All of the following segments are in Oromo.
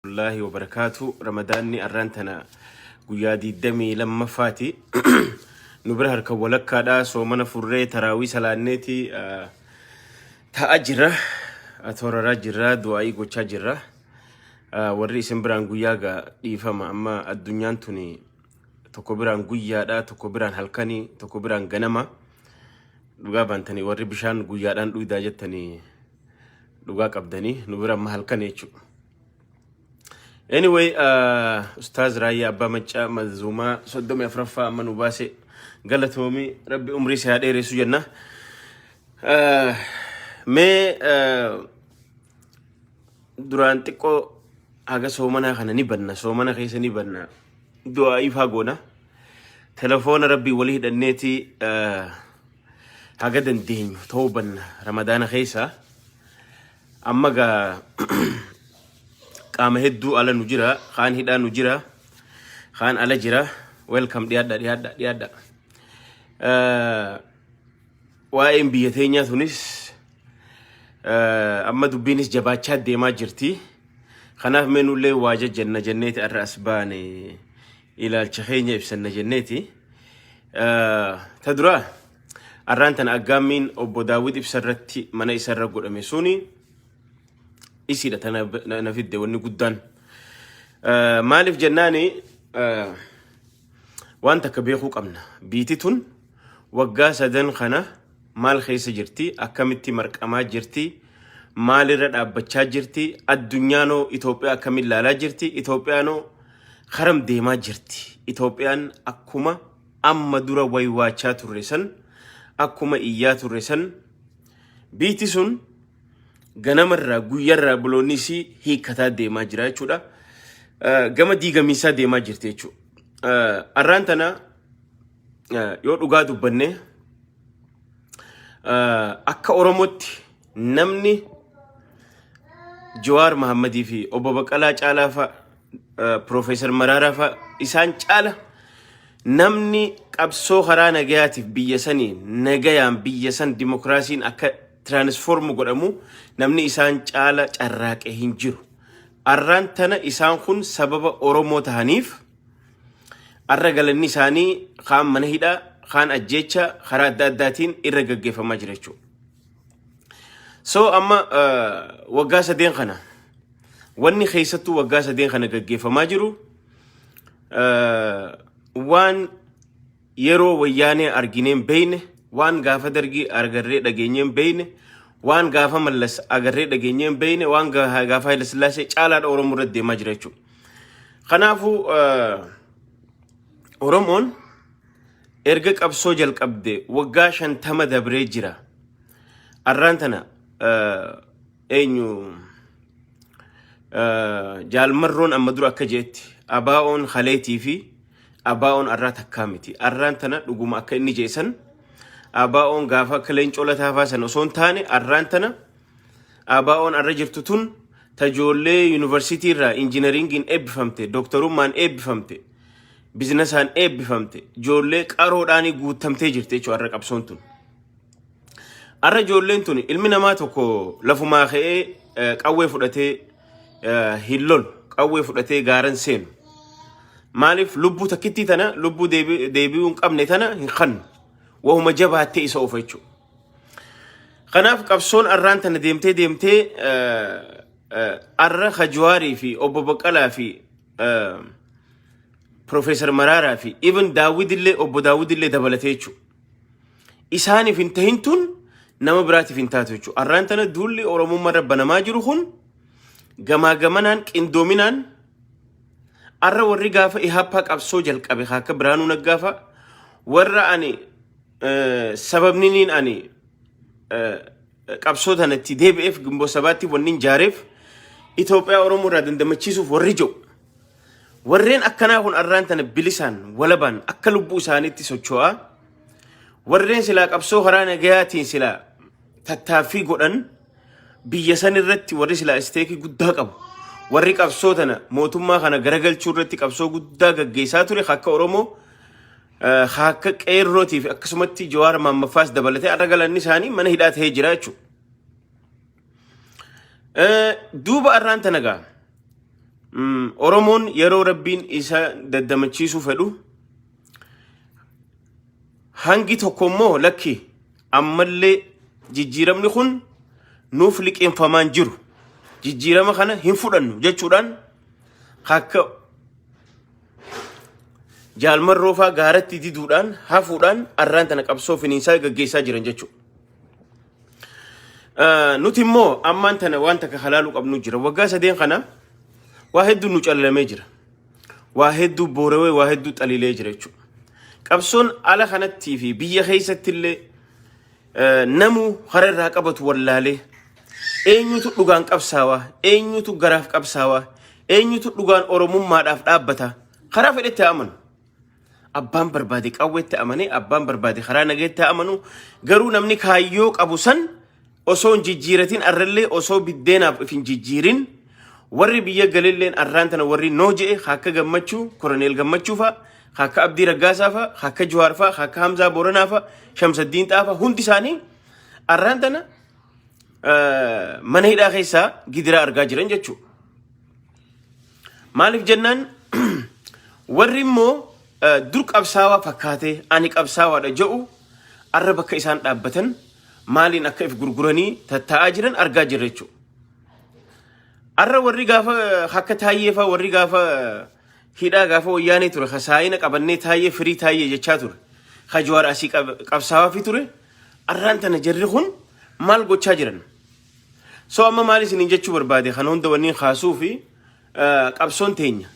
Wallaahi wa barakaatu ramadaanni arraan tana guyyaa 22ffaati nu bira harka walakkaadha soomana furree taraawii salaanneeti ah, ta'a jirra ah, tooraraa jirra du'aa'ii gochaa jirra Ah, warri isin biraan guyyaa gaa dhiifama amma addunyaan tuni tokko biraan guyyaadha tokko biraan halkanii tokko biraan ganama dhugaa baantanii warri bishaan guyyaadhaan dhuydaa jettanii dhugaa qabdanii nu bira amma halkan jechuudha. Anyway, uh, Ustaaz Raayyaa Abbaa Maccaa Manzuumaa soddomii afraffaa amma nu baase galatoomii rabbi umrii si haa dheeressu jenna. Uh, mee uh, duraan xiqqoo haga soomanaa kana ni banna soomana keessa ni banna du'aa'iif haa goona. Telefoona rabbii walii hidhanneeti uh, haga dandeenyu tawbanna ramadaana keessa amma gaa qaama hedduu ala nu jira kaan hidhaa nu jira kaan ala jira welcome dhiyaadha dhiyaadha dhiyaadha Eh, waa'een biyya teenyaa tunis eh, amma dubbiinis jabaachaa deemaa jirti kanaaf meenullee waa jajjanna jenneeti arra as baane ilaalcha keenya ibsanna jenneeti. Ta duraa arraan tana aggaammiin obbo Daawwit Ibsa irratti mana isa irra godhame suni isiidha tana na fidde wanni guddaan. Maaliif jennaani waan takka beekuu qabna. Biiti tun Waggaa sadan kana maal keessa jirti? Akkamitti marqamaa jirti? Maalirra dhaabbachaa jirti? Addunyaanoo Itoophiyaa akkamiin laalaa jirti? Itoophiyaanoo karam deemaa jirti? Itoophiyaan akkuma amma dura waywaachaa turre san, akkuma iyyaa turre san, biitti sun ganamarraa guyyarraa buloonni isii hiikkataa deemaa jira jechuudha. Eh, Gama diigamiinsaa deemaa jirti jechuudha. Eh, Arraan tana Yoo dhugaa dubbanne akka Oromootti namni Jawaar Mahammadii fi obbo Baqqalaa Caalaa fa'a, Piroofeesar Maraaraa fa'a isaan caala namni qabsoo karaa nagayaatiif biyya sanii nagayaan biyya san dimokiraasiin akka tiraanisfoormu godhamu namni isaan caala carraaqe hin jiru. Arraan tana isaan kun sababa Oromoo tahaniif Har'a galanni isaanii kaan mana hidhaa, kaan ajjeecha karaa adda addaatiin irra gaggeeffamaa jira jechuudha. So amma waggaa sadeen kana wanni keessattuu waggaa sadeen kana gaggeeffamaa jiru waan yeroo wayyaanee arginee hin beeyne, waan gaafa dargii argarree dhageenyee hin beeyne, waan gaafa mallas agarree dhageenyee hin beeyne, waan ga- gaafa Hayilasillaasee caalaadha Oromoo irratti deemaa jira jechuudha. Kanaafuu eh, Oromoon erga qabsoo jalqabde waggaa shantama dabree jira. Arraan tana eh, eenyu eh, jaalmarroon amma dura akka jeetti abaa'oon haleetii fi abaa'oon arraa takkaa miti arraan tana dhuguma akka inni jeesan abaa'oon gaafa akka leencoo lataafaa san osoo hin taane arraan tana abaa'oon arra jirtu tun tajoollee yuunivarsiitii irraa injinariingiin eebbifamte dooktarummaan eebbifamte bizinasaan eebbifamte joollee qaroodhaanii guuttamtee jirti jechuudha arra qabsoon tun. Arra ijoolleen tun ilmi namaa tokko lafumaa ka'ee eh, qawwee fudhatee eh, hin lolu. Qawwee fudhatee gaaran seenu. Maaliif lubbuu takkittii tana lubbuu deebi- deebi'uu hin qabne tana hin kannu. Wahuma jabaattee isa oofa jechuudha. Kanaaf qabsoon arraan tana deemtee deemtee eh, eh, arra Hajiwaarii fi obbo Baqqalaa fi eh, Profeesar Maraaraa fi even Daawwidillee obbo Daawwidillee dabalatee jechuudha. isaaniif hin tahin tun nama biraatiif hin taatu jechuudha. Arraan tana duulli Oromummaa irra banamaa jiru kun gamaa gamanaan qindoominaan arra warri gaafa ihaappaa qabsoo jalqabe haa akka biraanuu naggaafa warra ani eh, sababniniin ani eh, qabsoo tanatti deebi'eef gimboo sabaatti wanni hin jaareef Itoophiyaa Oromoo irraa dandamachiisuuf warri jiru. Warreen akkanaa kun arraan tana bilisaan walabaan akka lubbuu isaaniitti socho'aa warreen silaa qabsoo karaa nagayaatiin silaa tattaaffii godhan biyya san irratti warri silaa isteekii guddaa qabu. Warri qabsoo tana mootummaa kana garagalchuu irratti qabsoo guddaa gaggeessaa ture akka Oromoo akka qeerrootiif akkasumatti Jawaar Maammaffaas dabalatee arra galanni isaanii mana hidhaa ta'ee jira jechuudha. Eh, Duuba arraan tana gaa. Mm, Oromoon yeroo rabbiin isa daddamachiisuu fedhu hangi tokko immoo lakki ammallee jijjiiramni kun nuuf liqeeffamaan jiru jijjiirama kana hin fudhannu jechuudhaan akka jaalmarroofaa gaaratti diduudhaan hafuudhaan arraan tana qabsoo finiinsaa gaggeessaa jiran jechuudha. Ah, Nuti immoo ammaan tana waan takka halaaluu qabnu jira. Waggaa sadeen kana waa hedduu nu callalamee jira. Waa hedduu boorawee waa hedduu xaliilee jira jechuudha. Qabsoon ala kanattii fi biyya keessatti illee eh, namuu hara irraa qabatu wallaalee eenyutu dhugaan qabsaawaa eenyutu garaaf qabsaawaa eenyutu dhugaan oromummaadhaaf dhaabbata karaa fedhetti haa amanu. Abbaan barbaade qawweetti amanee abbaan barbaade karaa nageetti haa amanu garuu namni kaayyoo qabu san osoo hin jijjiiratin arrallee osoo biddeenaaf if hin jijjiirin warri biyya galilleen arraan tana warri noo je'e ka akka gammachuu koroneel gammachuu fa'a ka akka abdii raggaasaa fa'a ka akka juwaar fa'a ka akka hamzaa booranaa fa'a shamsaddiin xaa fa'a hundi isaanii arraan tana eh, mana hidhaa keessaa gidiraa argaa jiran jechuudha. Maaliif jennaan warri immoo eh, dur qabsaawaa fakkaatee ani qabsaawaadha ja'u arra bakka isaan dhaabbatan maaliin akka if gurguranii tattaa'aa jiran argaa jirra jechuudha. Arra warri gaafa eh, akka taayyee fa'aa warri gaafa eh, hidhaa gaafa wayyaanee ture ka saayina qabannee taayyee firii taayyee jechaa ture ka jawaar asii qab- qabsaawaa fi ture arraan tana jarri kun maal gochaa jiran So amma maal isiniin jechuu barbaade kan hunda wanniin kaasuu fi qabsoon teenya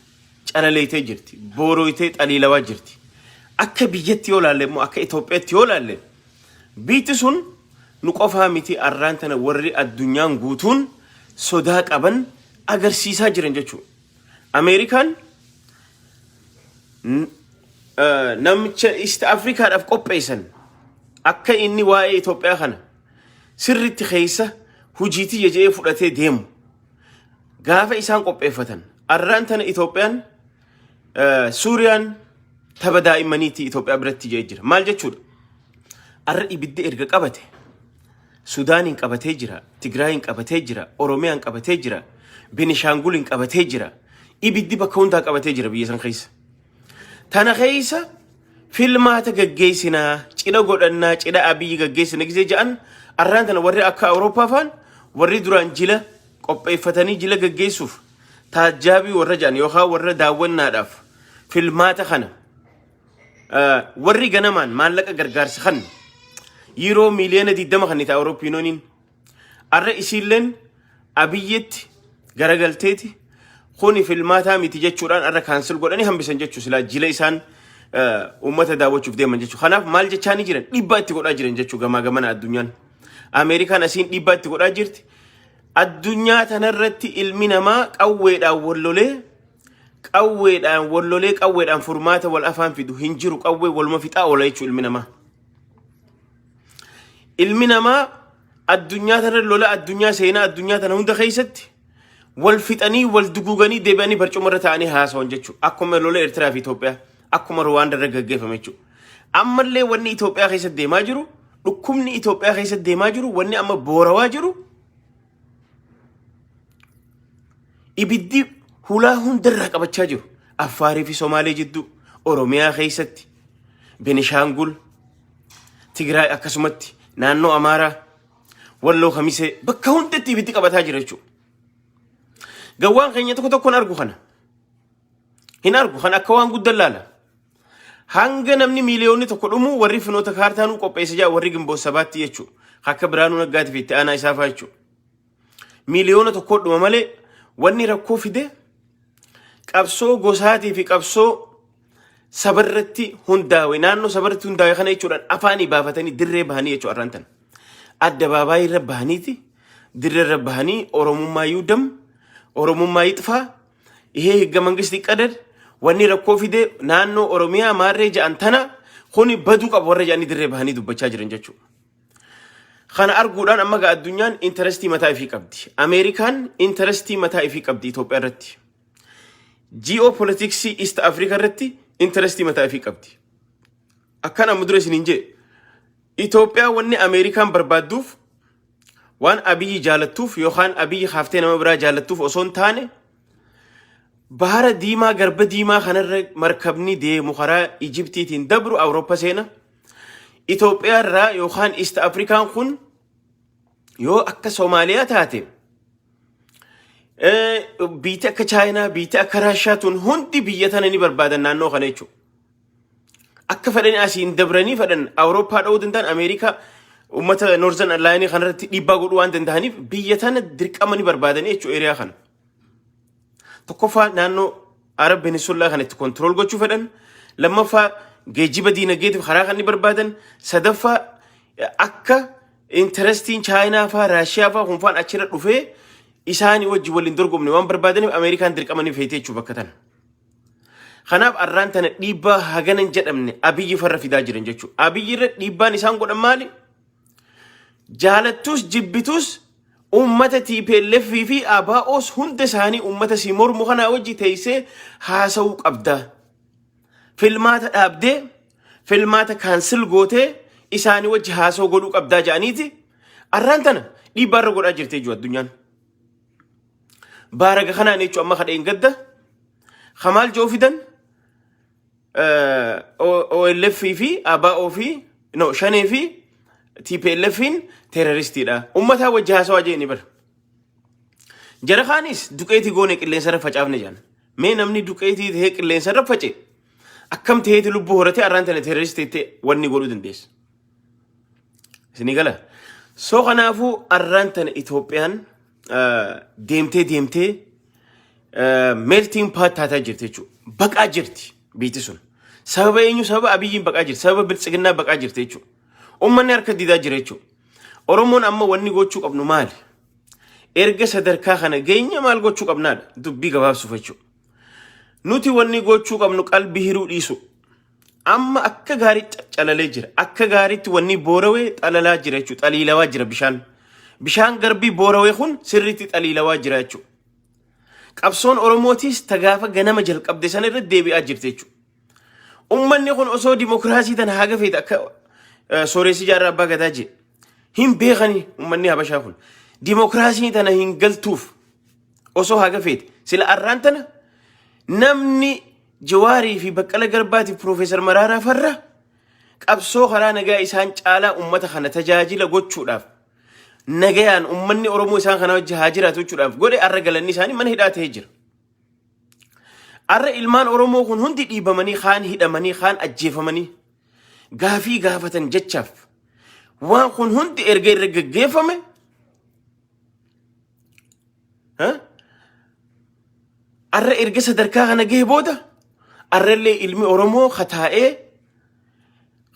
calaleeytee jirti. Boorooytee xaliilawaa jirti. Akka biyyatti yoo laalle immoo akka Itoophiyaatti yoo laalle biitti sun nu qofaa miti arraan tana warri addunyaan guutuun sodaa qaban agarsiisaa jiran jechuudha. Ameerikaan namicha East Afrikaadhaaf qopheessan akka inni waa'ee Itoophiyaa kana sirritti keessa hujii tiyya je'ee fudhatee deemu gaafa isaan qopheeffatan arraan tana Itoophiyaan eh, Suuriyaan tapha daa'immaniitti Itoophiyaa biratti je'ee jira. Maal jechuudha? Arra ibidda erga qabate Sudaaniin qabatee jira, Tigraayiin qabatee jira, Oromiyaan qabatee jira, Benishaanguliin qabatee jira. Ibiddi bakka hundaa qabatee jira biyya san keessa. Tana keessa filmaata gaggeessinaa, cidha godhannaa, cidha abiyyi gaggeessina gisee ja'an arraan tana warri akka Awurooppaa faan warri duraan jila qopheeffatanii jila gaggeessuuf taajjaabii warra ja'an yookaan warra daawwannaadhaaf filmaata kana eh, warri ganamaan maallaqa gargaarsa kan yeroo miiliyoona 20 kan itti Awurooppiinooniin Arra isiilleen Abiyyitti garagalteeti kuni filmaataa miti jechuudhaan arra kaansil godhanii hambisan jechuu silaa jila isaan uummata daawwachuuf deeman jechuu. Kanaaf maal jechaa ni jiran dhiibbaa itti godhaa jiran jechuu gamaa gamana addunyaan. Ameerikaan asiin dhiibbaa itti godhaa jirti. Addunyaa tanarratti ilmi namaa qawweedhaan wallolee qawweedhaan wallolee qawweedhaan furmaata wal afaan fidu hin jiru qawwee waluma fixaa oola jechuu ilmi namaa. Ilmi namaa addunyaa tana lola addunyaa seenaa addunyaa tana hunda keessatti wal fixanii wal duguuganii deebi'anii barcuma irra taa'anii haasawan jechuudha. Akkuma lola Eertiraa fi Itoophiyaa akkuma Ruwaanda irra gaggeeffame jechuudha. Ammallee wanni Itoophiyaa keessatti deemaa jiru dhukkubni Itoophiyaa keessatti deemaa jiru wanni amma boorawaa jiru ibiddi hulaa hundarraa qabachaa jiru. Affaarii fi Somaalee jidduu Oromiyaa keessatti Benishaangul Tigraay akkasumatti naannoo Amaaraa walloo kamisee bakka hundatti ibiddi qabataa jira jechuudha. Gawwaan keenya tokko tokkoon argu kana. Hin argu kan akka waan guddaa laala. Hanga namni miiliyoonni tokko dhumu warri finoota kaartaanuu qopheessa jira warri gimboota sabaatti jechuudha. Akka biraanuu naggaatiif itti aanaa isaa fa'aa jechuudha. miiliyoona tokkodhuma malee wanni rakkoo fide qabsoo gosaatii fi qabsoo sabarratti hundaawe naannoo sabarratti hundaawe kana jechuudhaan afaanii baafatanii dirree bahanii jechuu arraan tan adda baabaayii irra bahaniiti dirree irra bahanii oromummaa yuudam oromummaa yixfaa ihee higga mangisti qadad wanni rakkoo fide naannoo oromiyaa maarree ja'an tana kuni baduu qabu warra ja'anii dirree bahanii dubbachaa jiran jechuudha. Kana arguudhaan amma gaa addunyaan intarestii mataa ifii qabdi. Ameerikaan intarestii mataa ifii qabdi Itoophiyaa irratti. Ji'oo politiksii East Africa irratti intarestii mataa ifii qabdi. Akkan amma dura isiniin jee Itoophiyaa wanni Ameerikaan barbaadduuf waan abiyyi jaalattuuf yookaan abiyyi haaftee nama biraa jaalattuuf osoo hin taane bahara diimaa garba diimaa kanarra markabni deemu karaa Ijibtiitiin dabru Awurooppaa seena. Itoophiyaa irraa yookaan East Afrikaan kun yoo akka Soomaaliyaa taate eh, biyyi akka Chaayinaa, biyyi akka Raashiyaa tun hundi biyya tana ni barbaadan naannoo kana jechuudha. Akka fedhanii asiin dabranii fedhan Awurooppaa dha'uu danda'an Ameerikaa uummata Noorzan Allaayinii kanarratti dhiibbaa godhuu waan danda'aniif biyya tana dirqama ni barbaadan jechuudha eriyaa kana. Tokkoffaa naannoo Arab Peninsula kan itti kontirool gochuu fedhan. Lammaffaa geejjiba diinagdeetiif karaa kan ni barbaadan. Sadaffaa akka intarestiin Chaayinaa faa Raashiyaa faa kun faan achirra dhufee isaanii wajjin waliin dorgomne waan barbaadaniif Ameerikaan dirqama ni feetee jechuudha bakka tana. Kanaaf arraan tana dhiibbaa haganan jedhamne abiyyi farra fidaa jiran jechuudha. Abiyyi irra dhiibbaan isaan godhan maali? Jaalattus jibbitus uummata TPLF fi ABOs hunda isaanii uummata si mormu kanaa wajji teessee haasa'uu qabda. Filmaata dhaabdee filmaata kaansil gootee isaanii wajji haasa'uu godhuu qabdaa jedhaniiti. Arraan tana dhiibbaa irra godhaa jirti jechuudha addunyaan. Baaraga kanaan jechuun amma kadheen gadda. Kamaal Joofidan OLF fi ABO fi no shanee fi TPLFin terroristiidha. Ummataa wajji haasawaa jee ni bara. Jara kaanis duqeetii goone qilleensa irra facaafne jedhan. Mee namni duqeetii ta'ee qilleensa irra face akkam ta'eeti lubbuu horatee arraan tana terroristi ta'e wanni godhuu dandeessa. Isinii gala. So kanaafuu arraan tana Itoophiyaan eh, deemtee deemtee melting pot taataa jirti jechuudha. Baqaa jirti biitti sun. Sababa eenyu sababa abiyyiin baqaa jirti. Sababa biltsiginnaa baqaa jirti jechuudha. Uummanni harka didaa jira jechuudha. Oromoon amma wanni gochuu qabnu maali? Erga sadarkaa kana geenye maal gochuu qabnaadha? Dubbii gabaabsuuf jechuudha. Nuti wanni gochuu qabnu qalbii hiruu dhiisu. Amma akka gaarii ca- calalee jira. Akka gaariitti wanni boorawee xalalaa jira jechuudha. Xaliilawaa jira bishaan. Bishaan garbii boorawee kun sirriitti xaliilawaa jira jechuudha. Qabsoon Oromootiis tagaafa ganama jalqabde sana irratti deebi'aa jirti jechuudha. Ummanni kun osoo dimokiraasii tana haga feete akka eh, sooressi jaarraa abbaa gadaa jee hin beekani ummanni habashaa kun. Dimokiraasii tana hin galtuuf osoo haga feete sila arraan tana namni Jawaarii fi Baqqala Garbaatiif Piroofeesar Maraaraa farra qabsoo karaa nagaa isaan caalaa ummata kana tajaajila gochuudhaaf nagayaan ummanni Oromoo isaan kana wajji haa jiraatu jechuudhaaf godhe arra galanni isaanii mana hidhaa ta'ee jira. Arra ilmaan Oromoo kun hundi dhiibamanii kaan hidhamanii kaan ajjeefamanii gaafii gaafatan jechaaf waan kun hundi erga irra gaggeeffame Arra erga sadarkaa kana gahe booda arrallee ilmi Oromoo kataa'ee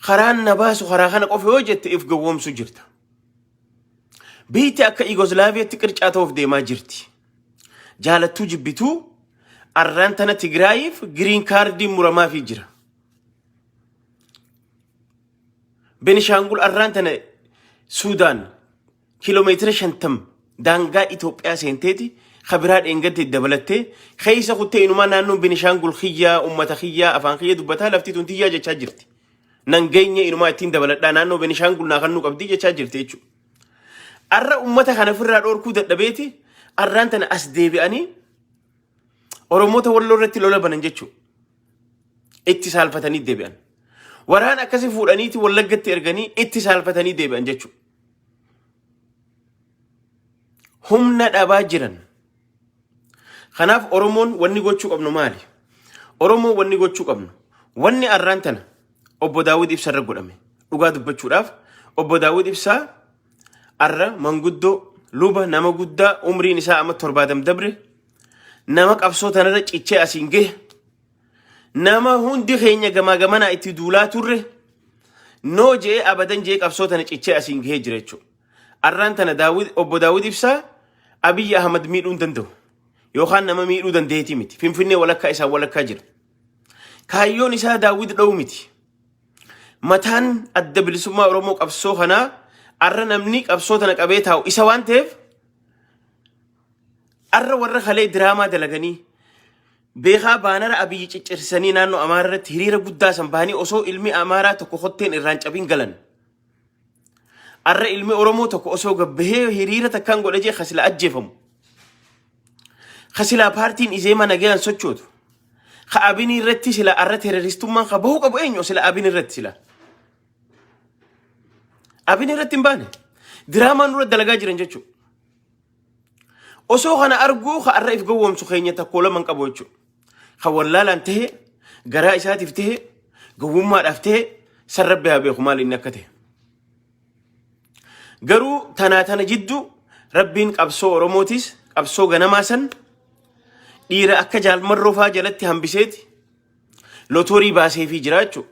karaan na baasu karaa kana qofa yoo jette if gowwoomsu jirta. Biitti akka Yugoslaaviyaatti qircaa ta'uuf deemaa jirti. Jaalattuu jibbituu arraan tana Tigraayiif giriin kaardiin muramaafii jira. Benishaangul arraan tana Suudaan kiiloomeetira 50 daangaa Itoophiyaa seenteeti ka biraa dheengadde dabalattee keessa kuttee inumaa naannoon Benishaangul kiyyaa uummata kiyyaa afaan kiyya dubbataa lafti tun tiyyaa jechaa jirti. Nan geenye inumaa ittiin dabaladhaa naannoo Benishaangul naa kannuu qabdii jechaa jirti jechuudha. Arra uummata kana ofirraa dhoorkuu dadhabeeti arraan tana as deebi'anii Oromoota walloo irratti lola banan jechuudha. Itti saalfatanii deebi'an. Waraan akkasii fuudhaniiti wallaggatti erganii itti saalfatanii deebi'an jechuudha. humna dhabaa jiran. Kanaaf Oromoon wanni gochuu qabnu maali? Oromoo wanni gochuu qabnu wanni arraan tana obbo Daawwid Ibsa irra godhame dhugaa dubbachuudhaaf obbo Daawwid Ibsaa arra manguddoo luba nama guddaa umriin isaa amma torbaadam dabre nama qabsoo tanarra cichee asiin gahe Nama hundi keenya gamaa gamanaa itti duulaa turre noo jee abadan jee qabsoo tana cichee asiin gahee jira jechuudha. Arraan tana Daawwid obbo Daawwid ibsaa Abiyyi Ahmad miidhuu hin danda'u. Yookaan nama miidhuu dandeetii miti. Finfinnee walakkaa isaan walakkaa jira. Kaayyoon isaa Daawwid dha'uu miti. Mataan adda bilisummaa Oromoo qabsoo kanaa arra namni qabsoo tana qabee taa'u isa waan ta'eef arra warra kalee diraamaa dalaganii Beekaa baanara Abiy ciccirsanii naannoo Amaaraa irratti hiriira guddaa san bahanii osoo ilmi Amaaraa tokko kotteen irraan cabiin galan. Arra ilmi Oromoo tokko osoo gabbahee hiriira takkaan godha jee kasila ajjeefamu. Kasilaa paartiin izeemaa nagayaan sochootu. Ka abinii irratti sila arra teroristummaan ka bahuu qabu eenyu sila abin irratti sila. Abin irratti hin baane. Diraamaa nurra dalagaa jiran jechuudha. Osoo kana arguu ka arra if gowwoomsu keenya takkoo lama hin qabu jechuudha. Kan wallaalaan ta'e, garaa isaatiif ta'e, gowwummaadhaaf ta'e, san rabbi haa beeku maal inni akka ta'e. Garuu tanaa tana jiddu rabbiin qabsoo Oromootis qabsoo ganamaa san dhiira akka jaalmarroo faa jalatti hambiseeti lotoorii baaseefii jira jechuudha.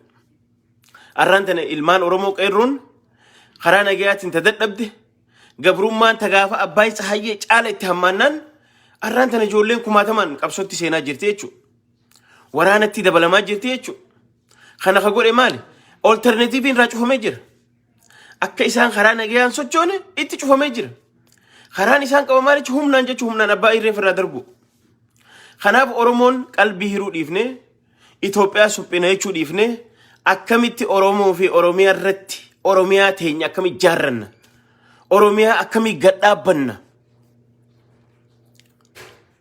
Arraan tana ilmaan Oromoo qeerroon karaa nagayaatiin ta dadhabde Gabrummaan tagaafa Abbaay Tsahayyee caala itti hammaannaan arraan tana ijoolleen kumaatamaan qabsootti seenaa jirti jechuudha. Waraanatti dabalamaa jirti jechuudha. Kana ka godhe maali? Olterneetiiviin irraa cufamee jira. Akka isaan karaa nagayaan sochoone itti cufamee jira. Karaan isaan qaba maalichi humnaan jechuun humnaan abbaa irreen irraa darbu. Kanaaf Oromoon qalbii hiruu dhiifnee Itoophiyaa suphina jechuu dhiifnee akkamitti Oromoo fi Oromiyaa irratti Oromiyaa teenya akkamitti ijaarranna? Oromiyaa akkamitti gad dhaabbanna?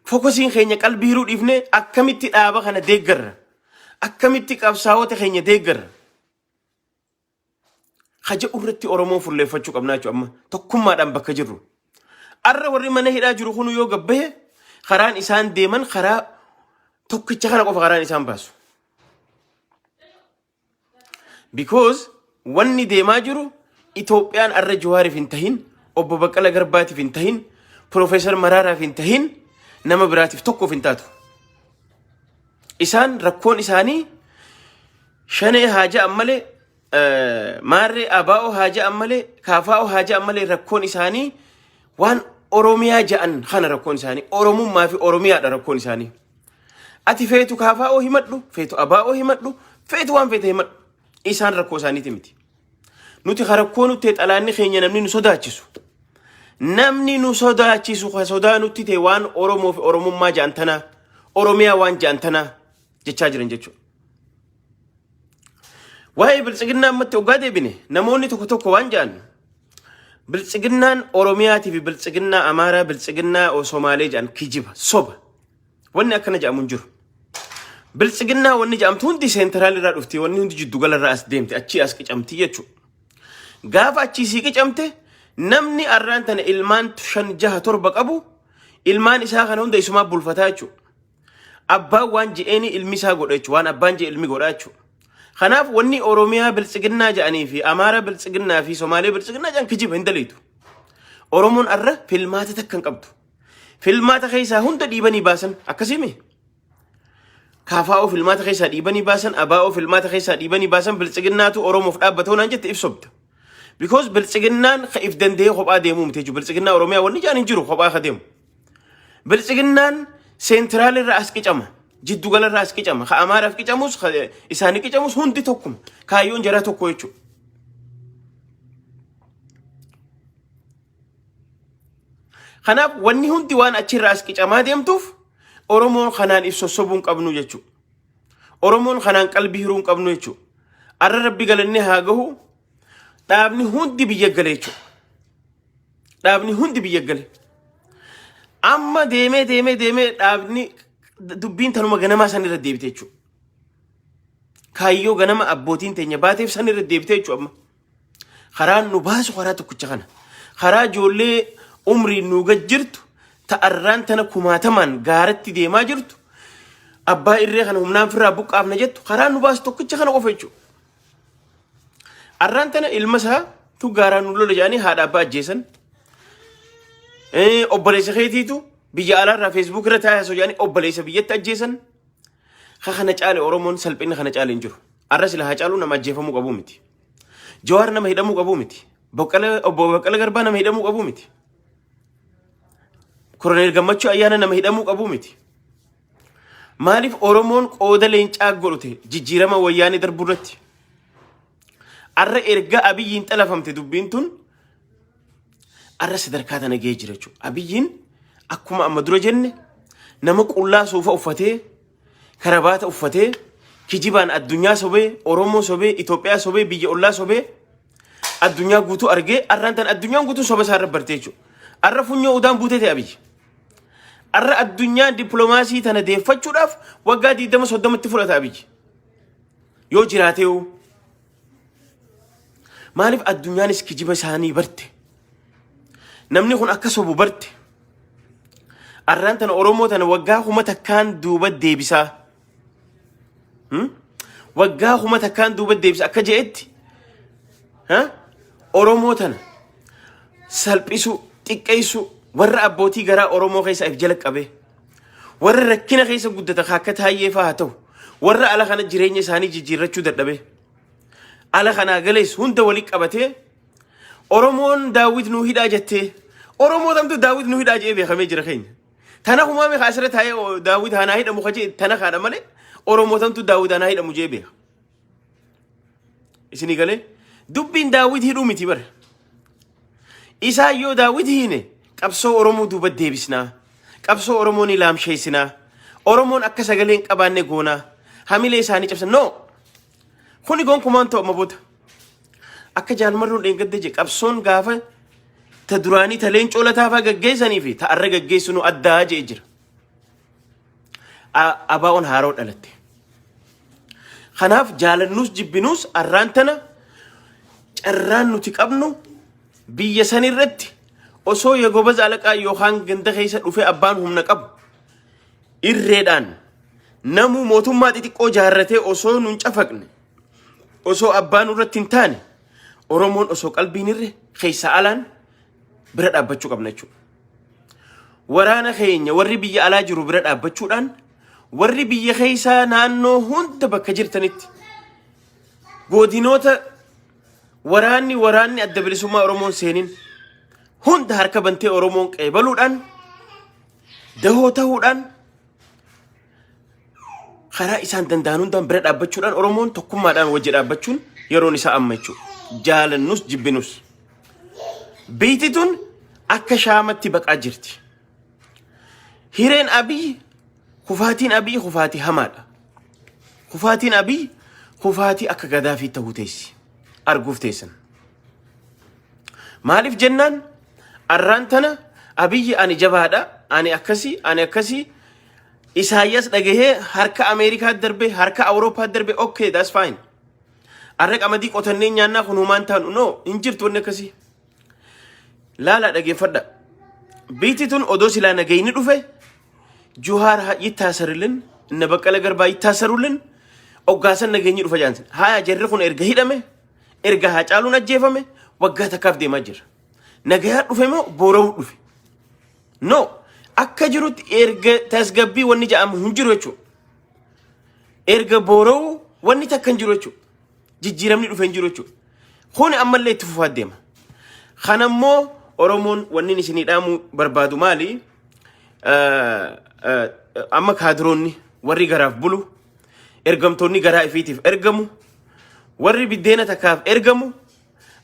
Fokosiin keenya qalbii hiruu dhiifnee akkamitti dhaaba kana deeggarra? Akkamitti qabsaa'ota keenya deeggarra? Ka jedhu irratti Oromoon fulleeffachuu qabnaa jechuudha amma tokkummaadhaan bakka jirru. Arra warri mana hidhaa jiru kun yoo gabbahe karaan isaan deeman karaa tokkicha kana qofa karaan isaan baasu. Because wanni deemaa jiru Itoophiyaan arra Jawaariif hin tahin, obbo Baqqala Garbaatiif hin tahin, Piroofeesar Maraaraaf hin tahin, nama biraatiif tokkoof hin taatu. Isaan rakkoon isaanii shanee haa ja'an malee eh, maarree abaa'oo haa ja'an malee kaafaa'oo haa ja'an malee rakkoon isaanii waan Oromiyaa ja'an kana rakkoon isaanii Oromummaa fi Oromiyaadha rakkoon isaanii. Ati feetu kaafaa'oo himadhu, feetu abaa'oo himadhu, feetu waan feete himadhu. Isaan rakkoo isaaniiti miti. Nuti ka rakkoo nutti ta'e xalaanni keenya namni nu sodaachisu. Namni nu sodaachisu ka sodaa nutti ta'e waan Oromoo fi Oromummaa ja'an tanaa, Oromiyaa waan ja'an tanaa jechaa jiran jechuudha. Waa'ee biltsiginnaa ammatti oggaa deebine namoonni tokko tokko waan ja'an biltsiginnaan Oromiyaatii fi biltsiginnaa Amaaraa biltsiginnaa Somaalee ja'an kijiba soba. Wanni akkana jedhamu hin jiru. Biltsiginnaa wanni jedhamtu hundi seentiraal irraa dhufti, wanni hundi jiddu gala irraa as deemti, achii as qicamti jechuudha. Gaafa achii sii qicamte namni arraan tana ilmaan shan jaha torba qabu ilmaan isaa kana hunda isumaa bulfataa jechuudha. Abbaan waan je'een ilmi isaa godha jechuudha. Waan abbaan je'e ilmi godha jechuudha. Kanaaf wanni Oromiyaa biltsiginnaa jedhanii fi Amaara biltsiginnaa fi Somaalee biltsiginnaa jedhan kijiba hin daleetu. Oromoon arra filmaata takka hin qabdu. Filmaata keessaa hunda dhiibanii baasan akkasiimi. Kaafaa'oo filmaata keessaa dhiibanii baasan, abaa'oo filmaata keessaa dhiibanii baasan biltsiginnaatu Oromoof dhaabbatoo naan jette ibsobda. Because biltsiginnaan ka if danda'ee kophaa deemuu miti jechuudha. Biltsiginnaa Oromiyaa wanni jaan hin jiru kophaa ka deemu. Biltsiginnaan seentiraal irraa as qicama. Jiddu gala irraa as qicama. Ka Amaaraaf qicamus, ka isaanii qicamus hundi tokkuma. Kaayyoon jaraa tokko jechuudha. Kanaaf wanni hundi waan achirraa as qicamaa deemtuuf Oromoon kanaan if sossobuu hin qabnu jechuudha. Oromoon kanaan qalbii hiruu hin qabnu jechuudha. Arra rabbi galanni haa gahu dhaabni hundi biyya gale jechuudha. Dhaabni hundi biyya gale. Amma deemee deemee deemee dhaabni dubbiin tanuma ganamaa san irra deebite jechuudha. Kaayyoo ganama abbootiin teenya baateef san irra deebite jechuudha amma. Karaan nu baasu karaa tokkicha kana. Karaa ijoollee umriin nu gad jirtu ta'arraan tana kumaatamaan gaaratti deemaa jirtu abbaa irree kana humnaan firraa buqqaafna jettu karaa nu baasu tokkicha kana qofa jechuudha. Arraan tana ilma isaa tu gaaraan nu lola jedhanii haadha abbaa ajjeesan. Eh, Obboleessa keetiitu biyya alaarraa feesbuuk irra taa'ee osoo jedhanii obboleessa biyyatti ajjeesan. Ka kana caale Oromoon salphinni kana caale hin jiru. Arra sila haa caalu nama ajjeefamuu qabu miti. Jawaar nama hidhamuu qabuu miti. Boqqalee obbo Boqqalee Garbaa nama hidhamuu qabuu miti. Koroneel Gammachuu Ayyaana nama hidhamuu qabuu miti. Maaliif Oromoon qooda leencaa godhate jijjiirama wayyaanee darbuu irratti? Arra erga Abiyyiin xalafamte dubbiin tun arra sadarkaa tana ga'ee jira jechuudha. Abiyyiin akkuma amma dura jenne nama qullaa suufa uffatee karabaata uffatee kijibaan addunyaa sobee Oromoo sobee Itoophiyaa sobee biyya ollaa sobee addunyaa guutuu argee arraan tan addunyaan guutuu soba isaa irra bartee jechuudha. Arra funyoo udaan buutee ta'e abiyyi. Arra addunyaa dippiloomaasii tana deeffachuudhaaf waggaa 20 30tti fudhata abiyyi. Yoo jiraatee hoo Maaliif addunyaanis kijiba isaanii barte? Namni kun akka sobu barte. Arraan tana Oromoo tana waggaa kuma takkaan duuba deebisaa. Hmm? Waggaa kuma takkaan duuba deebisa akka je'etti ha? Oromoo tana salphisuu, xiqqeessuu warra abbootii garaa Oromoo keessa if jala qabee. Warra rakkina keessa guddata ka akka taayyee fa'aa haa ta'u. Warra ala kana jireenya isaanii jijjiirrachuu dadhabee. Ala kanaa galees hunda walitti qabatee Oromoon daawwit nuu hidhaa jettee. Oromoo tamtu daawwit nuu hidhaa jedhee beekamee jira keenya. Tana humaame kaa asirra taa'ee daawwit hanaa hidhamu ka jedhe tana kaadha malee Oromoo tamtu daawwit hanaa hidhamu jedhee beeka. Isinii galee dubbiin daawwiti hidhuu miti bara. Isaan yoo daawwiti hiine qabsoo Oromoo duuba deebisnaa. Qabsoo Oromoo ni laamsheessinaa. Oromoon akka sagalee hin qabaanne goonaa. Hamilee isaanii cabsan. No! Kuni gonkumaan ta'u amma booda. Akka jaalmarroon dheengadda jedhe qabsoon gaafa ta duraanii ta leencoo lataafaa gaggeessanii fi ta arra gaggeessinu addaa jedhe jira. A- Abaa'oon haaroo dhalatte. Kanaaf jaalannuus jibbinuus arraan tana carraan nuti qabnu biyya san irratti osoo yegobaz alaqaa yookaan ganda keessa dhufee abbaan humna qabu irreedhaan namuu mootummaa xixiqqoo jaarratee osoo nun cafaqne osoo abbaan irratti hin taane oromoon osoo qalbiin irre keessa alaan bira dhaabbachuu qabna jechuudha. Waraana keenya warri biyya alaa jiru bira dhaabbachuudhaan warri biyya keessaa naannoo hunda bakka jirtanitti godinoota waraanni waraanni adda bilisummaa Oromoon seenin hunda harka bantee Oromoon qeebaluudhaan dahoo tahuudhaan karaa isaan danda'an hundaan bira dhaabbachuudhaan Oromoon tokkummaadhaan wajji dhaabbachuun yeroon isaa amma jechuudha. Jaalannus jibbinus. Biitti tun akka shaamatti baqaa jirti. Hireen Abiy kufaatiin Abiy kufaatii hamaadha. Kufaatiin Abiy kufaatii akka gadaafii ta'uu teessi. Arguuf teessan. Maaliif jennaan arraan tana Abiyyi ani jabaadha, ani akkasii, ani akkasii Isaayyaas dhagahee harka Ameerikaatti darbe, harka Awurooppaatti darbe, okay, that's fine. Arra qamadii qotannee nyaannaa kun humaan taanu. No, hin jirtu wanni akkasii. Laalaa dhageeffadha. Biitti tun odoo silaa nagayni dhufe Juhaar ha- yittaasarillin, inna baqqala garbaa yittaasarullin oggaasan nageenyi dhufa jaansin. Haaya jarri kun erga hidhame, erga haacaaluun ajjeefame, waggaa takkaaf deemaa jira. Nagayaa dhufe moo boora'uu dhufe? No. Akka jirutti erga tasgabbii wanni ja'amu hin jiru jechuudha. Erga boora'uu wanni takka hin jiru jechuudha. Jijjiiramni dhufe hin jiru jechuudha. Kuni ammallee itti fufaa deema. Kana immoo Oromoon wanni isinii dhaamuu barbaadu maali? Eh, eh, Amma kaadiroonni warri garaaf bulu, ergamtoonni garaa ifiitiif ergamu, warri biddeena takkaaf ergamu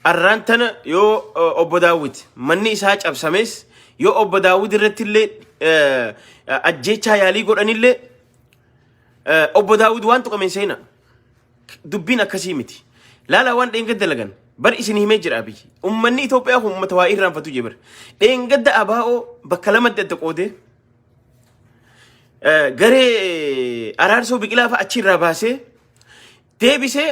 Arraan tana yoo eh, obbo Daawwit manni isaa cabsames yoo obbo Daawwit irratti illee eh, ajjeechaa yaalii godhanillee eh, obbo Daawwit waan tuqameen seena dubbiin akkasii miti. Laalaa waan dheengadda dalagan bar isin himee jira abiyyi. Uummanni Itoophiyaa kun uummata waa irraanfatu jee bara. Dheengadda abaa'oo bakka lamatti adda qoodee eh, garee araarsoo biqilaa fa'a achi irraa baasee deebisee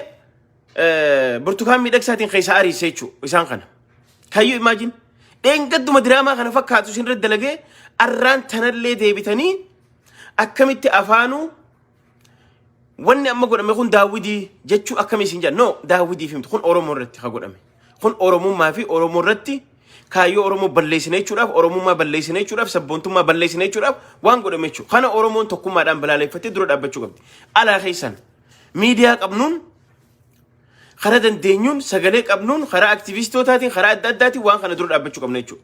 eh, burtukaan miidhagsaatiin keessaa ariise jechuudha isaan kana. Kayyuu imaajin dheengadduma diraamaa kana fakkaatu isin irratti dalagee arraan tanallee deebitanii akkamitti afaanuu wanni amma godhame kun daawwidii jechuu akkamii isin jedhan no daawwidii fi miti kun oromoo irratti ka godhame kun oromummaa fi oromoo irratti kaayyoo oromoo balleessina jechuudhaaf oromummaa balleessina jechuudhaaf sabboontummaa balleessina jechuudhaaf waan godhame jechuudha kana oromoon tokkummaadhaan balaaleffattee dura dhaabbachuu qabdi alaa keessan Miidiyaa qabnuun karaa dandeenyuun sagalee qabnuun karaa aktivistootaatiin karaa adda addaatiin waan kana dura dhaabbachuu qabna jechuudha.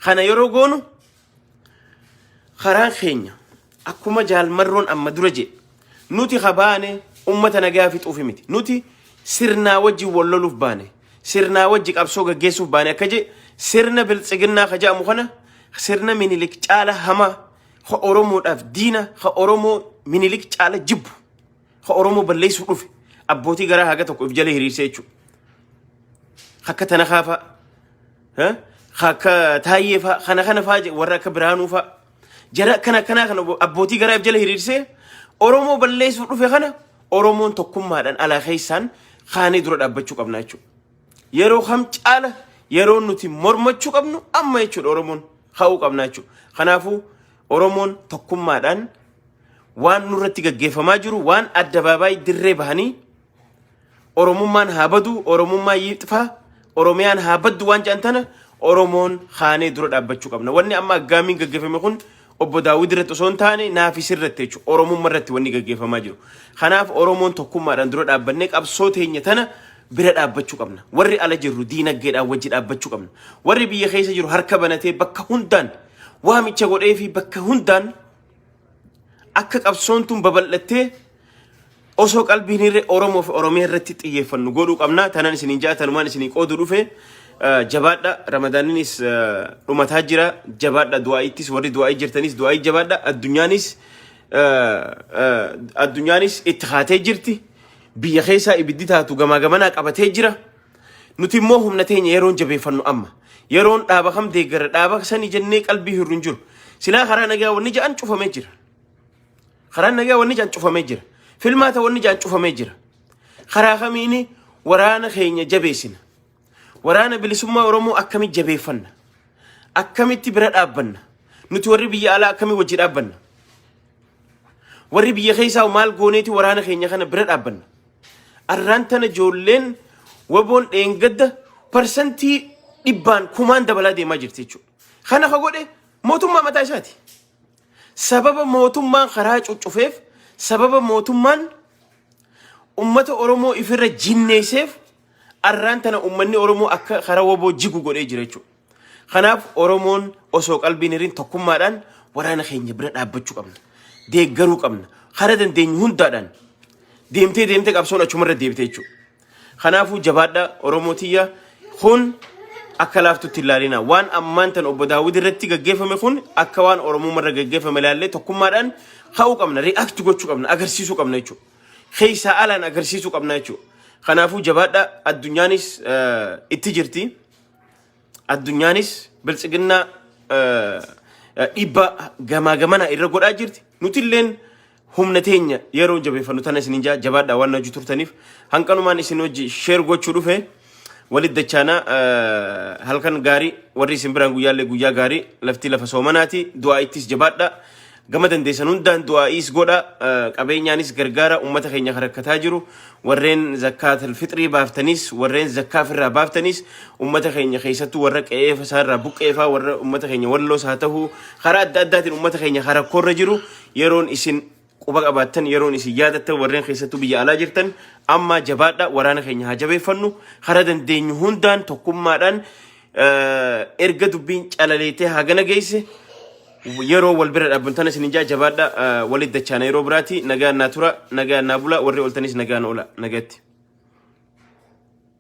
Kana yeroo goonu karaan keenya akkuma jaalmarroon amma dura jedhe nuti ha baane ummata nagaa fixuufi miti. Nuti sirnaa wajji wal loluuf baane sirnaa wajji qabsoo gaggeessuuf baane akka jedhe sirna biltsiginnaa ka jedhamu kana sirna minilik caala hamaa ha Oromoodhaaf diina ha Oromoo minilik caala jibbu. Ka Oromoo balleessuuf dhufe abbootii garaa haga tokko if jala hiriirsee jechuudha. Akka tana kaafaa. ha? Ka Akka taayyee faa kana kana faa je- warra akka biraanuu faa. Jara akkana akkanaa kana abbootii garaa if jala hiriirsee Oromoo balleessuuf dhufe kana Oromoon tokkummaadhaan alaa keessaan kaanee dura dhaabbachuu qabna jechuudha. yeroo kam caala yeroo nuti mormachuu qabnu amma jechuudha Oromoon ka'uu qabna jechuudha. Kanaafuu Oromoon tokkummaadhaan Waan nurratti gaggeeffamaa jiru waan addabaabaayii dirree bahanii Oromummaan haa badu, Oromummaa yiixfaa, Oromiyaan haa baddu waan jedhan tana Oromoon haanee dura dhaabbachuu qabna. Wanni amma aggaamiin gaggeeffame kun obbo Daawwid irratti osoo hin taane naafi sirratti jechuudha. Oromummaa irratti wanni gaggeeffamaa jiru. Kanaaf Oromoon tokkummaadhaan dura dhaabbannee qabsoo teenya tana bira dhaabbachuu qabna. Warri ala jirru diinagdeedhaan wajji dhaabbachuu qabna. Warri biyya keessa jiru harka banatee bakka hundaan waamicha godhee fi bakka hundaan Akka qabsoon tun babal'attee osoo qalbiin irra Oromoo fi Oromiyaa irratti xiyyeeffannu godhuu qabna. Tanan isiniin ja'a tanumaan isinii qoodu dhufe. Eh, Jabaadha Ramadaaninis eh, dhumataa jira. Jabaadha du'aa'iittis warri du'aa'ii jirtanis du'aa'ii jabaadha. Addunyaanis eh, eh, addunyaanis itti haatee jirti. Biyya keessaa ibiddi taatu gamaa gamanaa qabatee jira. Nuti immoo humna teenya yeroon jabeeffannu amma. Yeroon dhaaba kam deeggara dhaaba sani jennee qalbii hirru hin jiru. Silaa karaa nagaa wanni ja'an cufamee jira. Karaan nagaa wanni ja'an cufamee jira. Filmaata wanni ja'an cufamee jira. Karaa kamiini waraana keenya jabeessina. Waraana bilisummaa Oromoo akkamitti jabeeffanna? Akkamitti bira dhaabbanna? Nuti warri biyya alaa akkamii wajji dhaabbanna? Warri biyya keessaa maal gooneeti waraana keenya kana bira dhaabbanna. Arraan tana ijoolleen waboon dheengadda parsantii dhibbaan kumaan dabalaa deemaa jirti jechuudha. Kana ka godhe mootummaa mataa isaati. Sababa mootummaan karaa cuccufeef, sababa mootummaan ummata Oromoo ifirra jinneesseef arraan tana ummanni Oromoo akka karaa waboo jigu godhee jira jechuudha. Kanaaf Oromoon osoo qalbiin hirin tokkummaadhaan waraana keenya bira dhaabbachuu qabna. Deeggaruu qabna. Hara dandeenyu hundaadhaan deemtee deemtee qabsoon achumarra deebite jechuudha. Kanaafuu jabaadha Oromoo tiyya kun akka laaftutti ilaalina. Waan ammaan tan obbo Daawwid irratti gaggeeffame kun akka waan Oromummarra gaggeeffame ilaallee tokkummaadhaan ka'uu qabna, react gochuu qabna, agarsiisuu qabna jechuudha. Keessaa alaan agarsiisuu qabna jechuudha. Kanaafuu jabaadha addunyaanis itti jirti. Addunyaanis biltsiginnaa dhiibbaa gamaa gamanaa irra godhaa jirti. Nuti illeen humna teenya yeroo jabeeffannu tana isin ijaa jabaadhaa waan hojii turtaniif hanqanumaan isin hojii sheer gochuu dhufe walit dachaanaa halkan gaarii warri isin biraan guyyaallee guyyaa gaarii laftii lafa soomanaati du'aa ittis jabaadhaa Gama dandeessan hundaan du'aa'iis godha, eh, qabeenyaanis gargaara ummata keenya kan rakkataa jiru, warreen zakkaatal fixrii baaftanis, warreen zakkaa ofirraa baaftanis, ummata keenya keessattuu warra qe'ee isaa irraa buqqeefaa, warra ummata keenya walloos haa ta'u, karaa adda addaatiin ummata keenya kan rakkoorra jiru yeroon isin quba qabaattan yeroon isin yaadattan warreen keessattuu biyya alaa jirtan amma jabaadha waraana keenya haa jabeeffannu karaa dandeenyu hundaan tokkummaadhaan erga dubbiin calaleetee hagana geesse yeroo wal bira dhaabban tana isin ijaa jabaadha walit dachaana yeroo biraati nagaan naa tura nagaan naa bula warri oltanis nagaan oola nagatti.